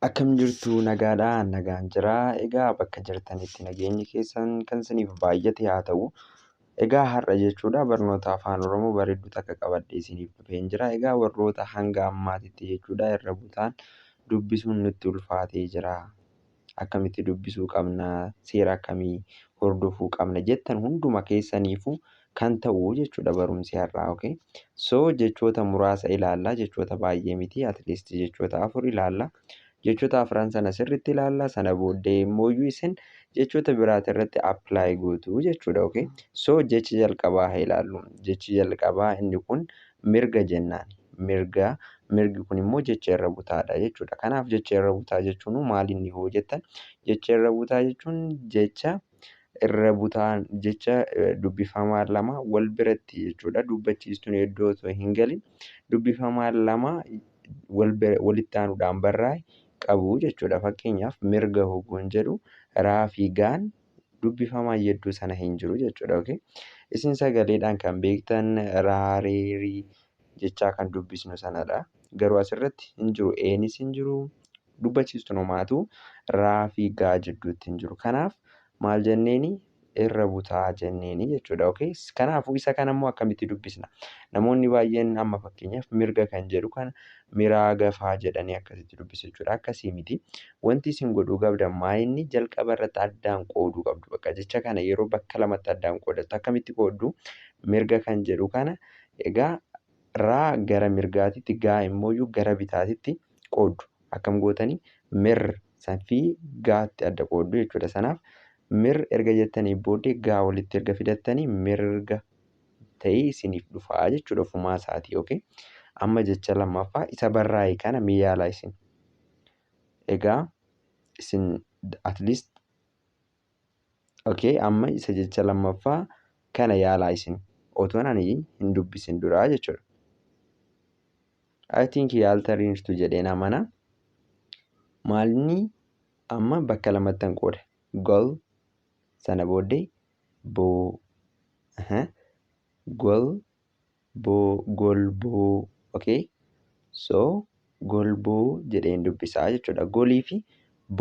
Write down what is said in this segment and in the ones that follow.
Akkam jirtu nagaadha an nagaan jira egaa bakka jirtanitti nageenyi keessan kan isiniif baay'ate haa ta'u egaa har'a jechuudha barnoota afaan oromoo bareedduu takka qabadhe isiniif dhufeen jira egaa warroota hanga ammaatitti jechuudha irra butaan dubbisuun nutti ulfaatee jira akkamitti dubbisuu qabna seera akkamii hordofuu qabna jettan hunduma keessaniifu kan ta'u jechuudha barumsi har'aa okay so jechoota muraasa ilaalla jechoota baay'ee miti at least jechoota afur ilaalla jechoota afran sana sirriitti ilaalla sana booddee immoo isin jechoota biraati irratti apply gootu jechuudha okay so jechi jalqabaa haa ilaallu jechi jalqabaa inni kun mirga jennaan mirga mirgi kun immoo jecha irra butaadha jechuudha kanaaf jecha irra butaa jechuun maal inni hoo jettan jecha irra butaa jechuun jecha irra butaan jecha dubbifamaa lama wal biratti jechuudha. Dubbachiistuun iddoo osoo hin galin dubbifamaan lama walitti aanuudhaan barraa'e qabu jechuudha. Fakkeenyaaf mirga hogguun jedhu raa fi gaan dubbifamaan yedduu sana hin jiru jechuudha. Isin sagaleedhaan kan beektan raa, ree, rii jechaa kan dubbisnu sanadha. Garuu asirratti hin jiru. Eenis hin jiru. Dubbachiistuun homaatuu raa fi gaa jidduutti hin jiru. Kanaaf maal jenneeni? Irra butaa jenneeni jechuudha. Okay? Kanaafuu isa kana immoo akkamitti dubbisna? Namoonni baay'een amma fakkeenyaaf mirga kan jedhu kana miraa gafaa jedhanii akkasitti dubbisu jechuudha. Akkasii miti. Wanti isin godhuu qabdan maayinni jalqaba irratti addaan qooduu qabdu. Bakka jecha kana yeroo bakka lamatti addaan qoodattu akkamitti qooddu? Mirga kan jedhu kana Egaa raa gara mirgaatitti gaa immooyyuu gara bitaatitti qooddu. Akkam gootanii mir san fi gaatti adda qooddu jechuudha. Sanaaf mir erga jettanii booddee gaa walitti erga fidattanii mirga ta'ee isiniif dhufa jechuudha ofumaa isaatii. Okay? Amma jecha lammaffaa isa barraa'e kana mee yaalaa isin. Egaa isin at least Okay amma isa jecha lammaffaa kana yaalaa isin otoon ani hin dubbisin duraa jechuudha. I think yaaltaniirtu jedheen amana. Maalni amma bakka lamattan qooda. Gol sana booddee boo. Aha. Gol boo golboo okay so golboo jedheen dubbisaa jechuudha golii fi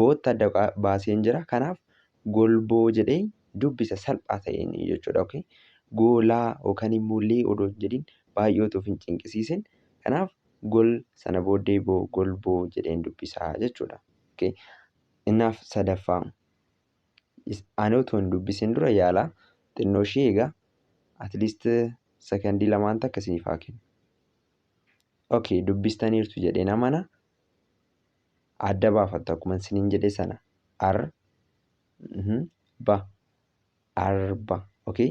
bootti adda qa- baaseen jira kanaaf golboo jedhee dubbisa salphaa ta'een jechuudha okay goolaa yookaan immoo lee odoo hin jedhin baay'ee otoo of hin cinqisiisin kanaaf gol sana booddee boo golboo jedheen dubbisaa jechuudha okay innaaf sadaffaa Ani utuu hin dubbisin dura yaala xinnoo ishii egaa at least sekondii lamaan takka isiniif haa kennu. Okay dubbistaniirtu jedhee namana adda baafattu akkuma isiniin jedhe sana ar mhm, ba arba okay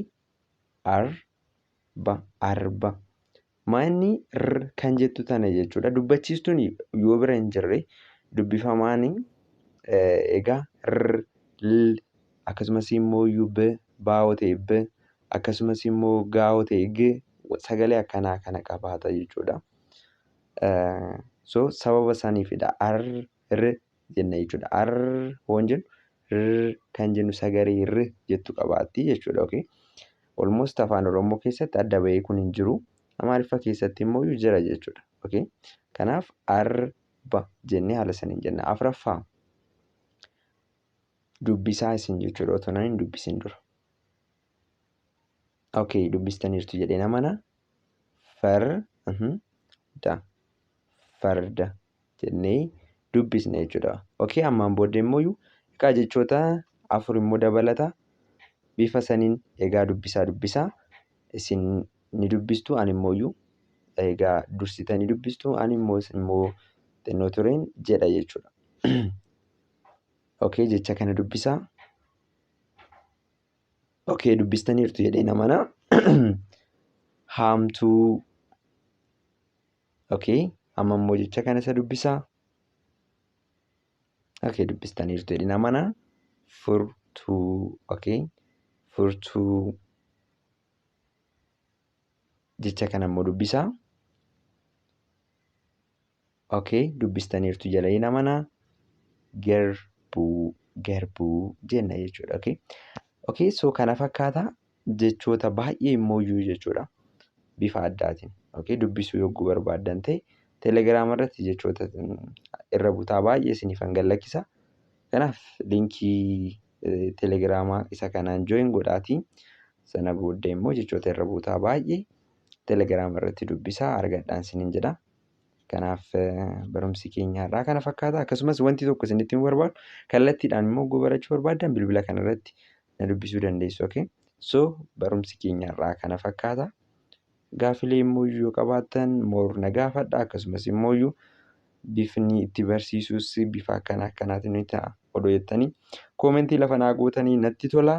arba arba Maa inni r kan jettu tana jechuudha. Dubbachiistuun yoo bira hin jirre dubbifamaan egaa r l akkasumas immoo iyyuu b baa'oo ta'e b akkasumas immoo gaa'oo ta'e g sagalee akkanaa kana qabaata jechuudha. So sababa saniifidha r r jenna jechuudha. Ar hoon jennu r kan jennu sagalee r jettu qabaatti jechuudha. Okay. Almost afaan Oromoo keessatti adda bahee kun hin jiru. Amaariffa keessatti immoo jira jechuudha. Okay. Kanaaf arba jennee haala saniin jenna. Afraffaa dubbisaa isin jechuudha otoo nan hin dubbisin dura. ok dubbistaniirtu jedheen amana far mhm, da farda jennee dubbisna jechuudha ok ammaan booddee immoo iyyuu egaa jechoota afur immoo dabalata bifa saniin egaa dubbisaa dubbisaa isin ni dubbistu ani immoo iyyuu egaa dursitanii dubbistu ani immoo isin immoo xinnoo tureen jedha jechuudha ok jecha kana dubbisaa Okay dubbistaniirtu jedhee namana. Haamtuu. Okay amma immoo jecha kana isa dubbisaa. Okay dubbistaniirtu jedhee namana. Furtuu. Okay furtuu. Jecha kana immoo dubbisaa. Ok dubbistaniirtu jedheen amana garbuu garbuu jenna jechuudha ok ok so kana fakkaata jechoota baay'ee immoo iyyuu jechuudha bifa addaatiin ok dubbisuu yogguu barbaaddan ta'e telegiraama irratti jechoota irra butaa baay'ee isiniif hangan lakkisa kanaaf linkii telegiraamaa isa kanaan join godhaatii sana booddee immoo jechoota irra butaa baay'ee telegiraama irratti dubbisaa argadhaan isiniin jedha Kanaaf barumsi keenya har'aa kana fakkaata. Akkasumas wanti tokko isinitti himuu barbaadu kallattiidhaan immoo oguu barachuu barbaaddan bilbila kana irratti na dubbisuu dandeessu. Okay? So barumsi keenya har'aa kana fakkaata. Gaafilee immoo yoo qabaattan moor na gaafadha. Akkasumas immoo bifni itti barsiisuus bifa akkana akkanaatiin ni ta'a odoo jettanii koomentii lafa naa gootanii natti tola.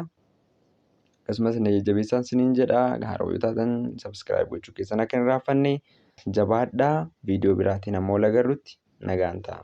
Akkasumas na jajjabeessaan sinin jedha. Haaroo yoo taatan subscribe gochuu keessan akka hin irraanfanne. Jabaadhaa viidiyoo biraatiin amma wal agarrutti nagaan ta'a.